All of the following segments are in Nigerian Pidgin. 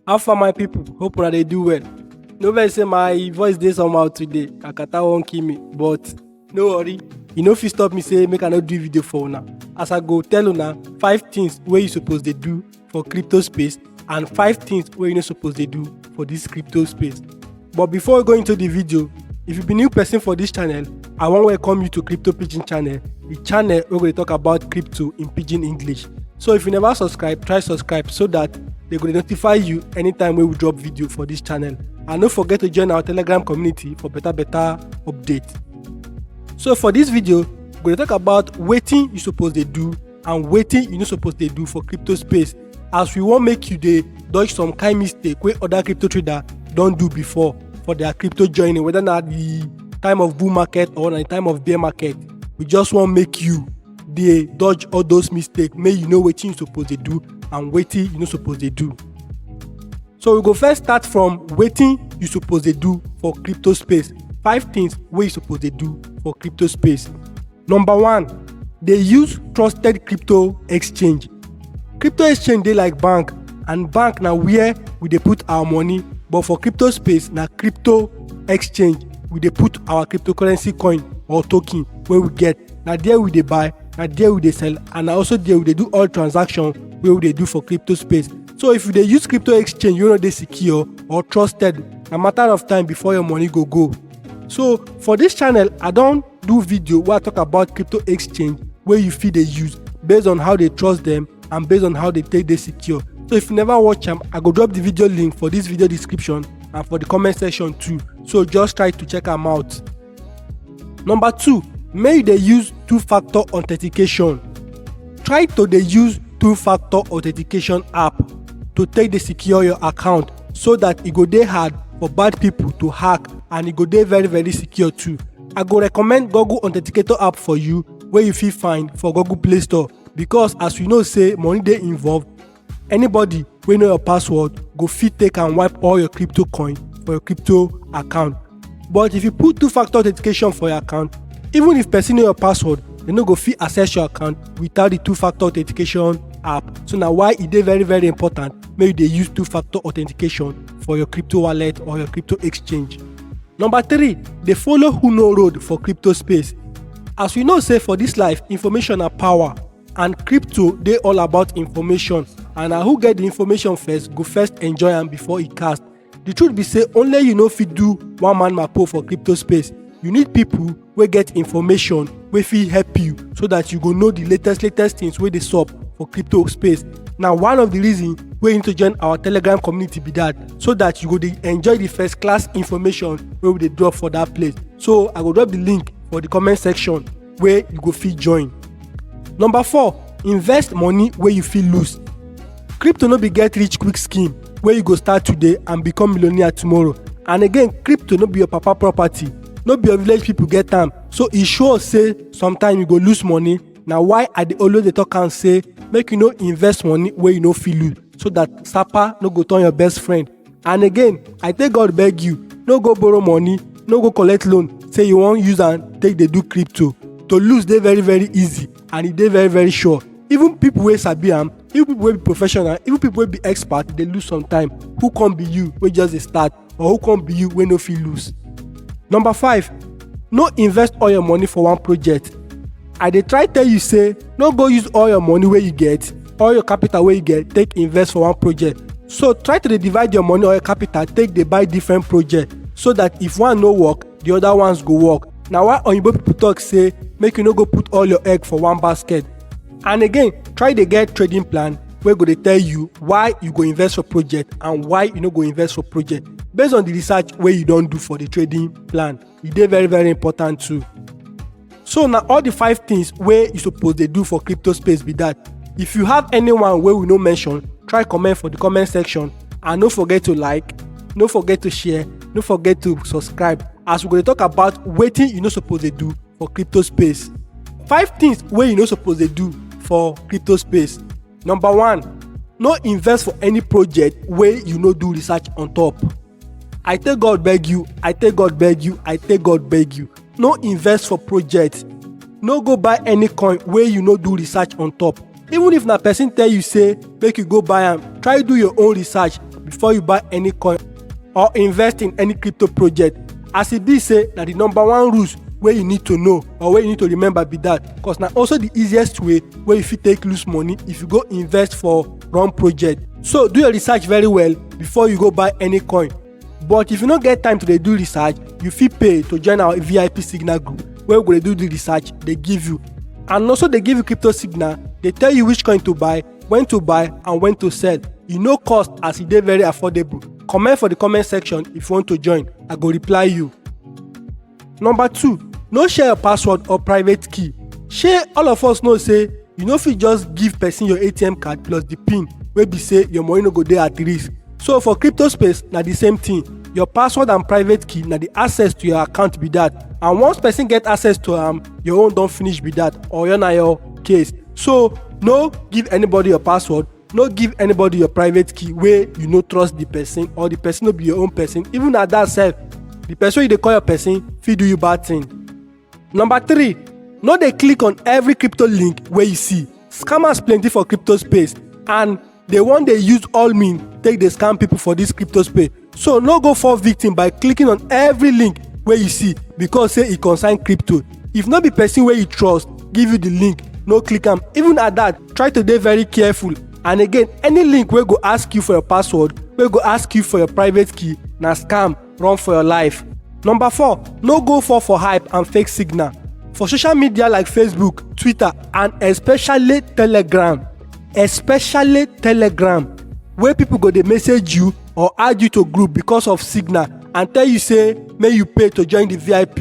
How far my people? Hope una dey do well. No vex say my voice dey somehow today. Kakata wan kill me, but no worry. E no fit stop me say make I no do video for una. As I go tell una five things wey you suppose dey do for crypto space and five things wey you no suppose dey do for this crypto space. But before we go into the video, if you be new person for this channel, I wan welcome you to Crypto Pidgin channel, the channel wey go dey talk about crypto in pidgin English. So if you never subscribe, try subscribe so that they go dey notify you anytime wey we drop video for this channel. And no forget to join our Telegram community for better better update. So for this video, we go dey talk about wetin you suppose dey do and wetin you no suppose dey do for crypto space as we wan make you dey dodge some kind mistake wey other crypto trader don do before for their crypto journey whether na the time of bull market or na the time of bear market we just wan make you dey dodge all those mistake make you know wetin you suppose dey do and wetin you no suppose dey do so we go first start from wetin you suppose dey do for crypto space five things wey you suppose dey do for crypto space Number one, dey use trusted crypto exchange. Crypto exchange dey like bank and bank na where we dey put our money but for crypto space na crypto exchange we dey put our cryptocurrency coin or token wey we get. Na there we dey buy, na there we dey sell and na also there we dey do all transaction wey we dey do for crypto space. So if you dey use crypto exchange wey no dey secure or trusted, na matter of time before your money go go. So for dis channel, I don do video wey i talk about crypto exchange wey you fit dey use based on how they trust them and based on how they take dey secure so if you never watch am i go drop the video link for this video description and for the comment section too so just try to check am out number two make you dey use two-factor authentication try to dey use two-factor authentication app to take dey secure your account so that e go dey hard for bad people to hack and e go dey very very secure too I go recommend Google Authenticator app for you wey you fit find for Google Play Store because as we know say money dey involved, anybody wey know your password go fit take and wipe all your crypto coin for your crypto account. But if you put two-factor authentication for your account, even if person know your password, dem no go fit access your account without the two-factor authentication app. So na why e dey very very important make you dey use two-factor authentication for your crypto wallet or your crypto exchange. Number three, dey follow who know road for crypto space. As we know say for this life, information na power and crypto dey all about information and na who get the information first go first enjoy am before e cast. The truth be say only you no fit do one man mapo for crypto space. You need people wey get information wey fit help you so that you go know the latest latest things wey dey sup for crypto space na one of the reason wey you need to join our telegram community be that so that you go dey enjoy the first class information wey we dey drop for that place so i go drop the link for the comment section wey you go fit join number four invest money wey you fit lose crypto no be get rich quick scheme wey you go start today and become millionaire tomorrow and again crypto no be your papa property no be your village people get am so e sure say sometimes you go lose money na why i dey always dey talk am say make you no invest money wey you no fit lose so that sapa no go turn your best friend and again i take god beg you no go borrow money no go collect loan say you wan use am take dey do crypto to lose dey very very easy and e dey very very sure even people wey sabi am even people wey be professional even people wey be expert dey lose sometimes who come be you wey just dey start or who come be you wey no fit lose number five no invest all your money for one project i dey try tell you say no go use all your money wey you get all your capital wey you get take invest for one project so try to dey divide your money or your capital take dey buy different project so that if one no work the other ones go work na why oyinbo people talk say make you no go put all your egg for one basket and again try dey get trading plan wey go dey tell you why you go invest for project and why you no go invest for project based on the research wey you don do for the trading plan e dey very very important too so na all the five things wey you suppose dey do for crypto space be that if you have anyone wey we no mention try comment for the comment section and no forget to like no forget to share no forget to subscribe as we go dey talk about wetin you no suppose dey do for crypto space five things wey you no suppose dey do for crypto space number one no invest for any project wey you no do research on top I take God beg you, I take God beg you, I take God beg you. No invest for project. No go buy any coin wey you no do research on top. Even if na person tell you say make you go buy am, try do your own research before you buy any coin or invest in any crypto project. As e be say na the number one rules wey you need to know or wey you need to remember be that cause na also the easiest way wey you fit take lose money if you go invest for run project so do your research very well before you go buy any coin but if you no get time to dey do research you fit pay to join our vip signal group wey we go dey do the research dey give you and also dey give you crypto signal dey tell you which coin to buy when to buy and when to sell e no cost as e dey very affordable comment for the comment section if you want to join i go reply you Number two, no share your password or private key. Shey all of us know say you no fit just give person your ATM card plus the pin wey be say your money no go dey at risk. So for crypto space na the same thing. Your password and private key na the access to your account be that. And once person get access to am, your own don finish be that or your na your case. So no give anybody your password no give anybody your private key wey you no trust the person or the person no be your own person even at that sef the person wey you dey call your person fit do you bad thing number three no dey click on every crypto link wey you see scammers plenty for crypto space and dey wan dey use all mean take dey scam people for this crypto space so no go fall victim by clicking on every link wey you see because say e concern crypto if no be person wey you trust give you the link no click am even at that try to dey very careful and again any link wey go ask you for your password wey go ask you for your private key na scam run for your life number four no go fall for hype and fake signal for social media like facebook twitter and especially telegram especially telegram wey people go dey message you or add you to group because of signal and tell you say make you pay to join the vip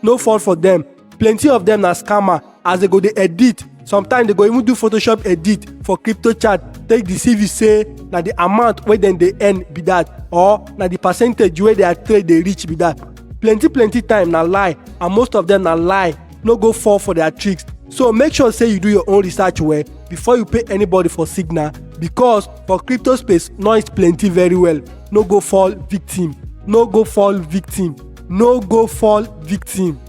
no fall for them plenty of them na scammer as they go dey edit sometimes they go even do photoshop edit for crypto chat take deceive you say na the amount wey dem dey earn be that or na the percentage wey their trade dey reach be that plenty plenty time na lie and most of them na lie no go fall for their tricks so make sure say you do your own research well before you pay anybody for signal because for crypto space noise plenty very well no go fall victim no go fall victim no go fall victim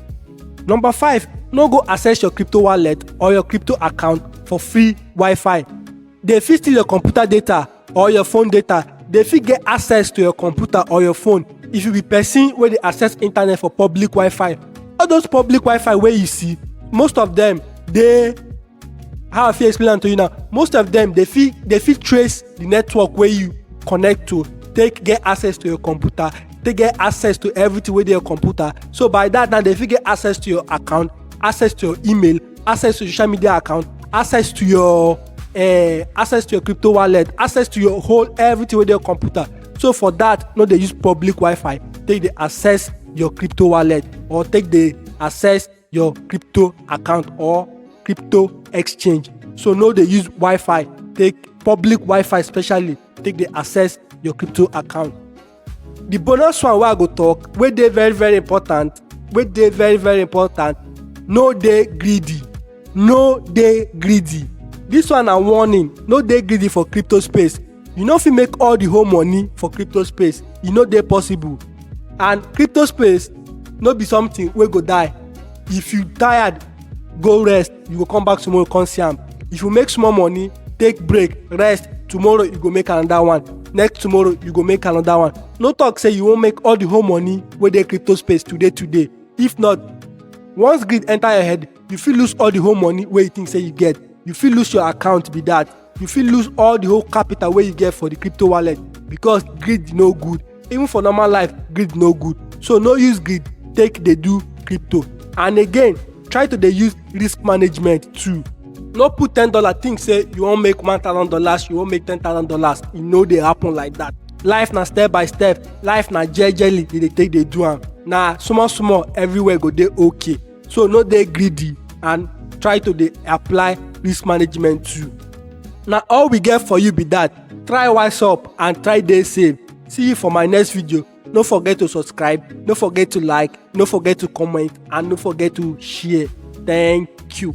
number five no go access your crypto wallet or your crypto account for free wi-fi dey fit steal your computer data or your phone data dey fit get access to your computer or your phone if you be person wey dey access internet for public wi-fi all those public wi-fi wey you see most of them dey how i fit explain am to you now most of them dey fit dey fit trace the network wey you connect to take get access to your computer take get access to everything wey dey your computer so by that now dey fit get access to your account access to your email access to social media account access to your uh, access to your crypto wallet access to your whole everything wey dey your computer so for that no dey use public wi-fi take dey access your crypto wallet or take dey access your crypto account or crypto exchange so no dey use wi-fi take public wi-fi especially take dey access your crypto account the bonus one wey i go talk wey dey very very important wey dey very very important no dey greedy no dey greedy this one na warning no dey greedy for crypto space you no fit make all the whole money for crypto space e no dey possible and crypto space no be something wey go die if you tired go rest you go come back tomorrow come see am if you make small money take break rest tomorrow you go make another one next tomorrow you go make another one no talk say you wan make all the whole money wey dey crypto space today today if not once greed enter your head you fit lose all the whole money wey you think say you get you fit lose your account be that you fit lose all the whole capital wey you get for the crypto wallet because greed no good even for normal life greed no good so no use greed take dey do crypto and again try to dey use risk management too no put ten dollar think say you wan make one thousand dollars you wan make ten thousand dollars e no dey happen like that life na step by step life na jejely you dey take dey do am na small small everywhere go dey okay so no dey greedy and try to dey apply risk management too na all we get for you be that try wise up and try dey safe see you for my next video no forget to subscribe no forget to like no forget to comment and no forget to share thank you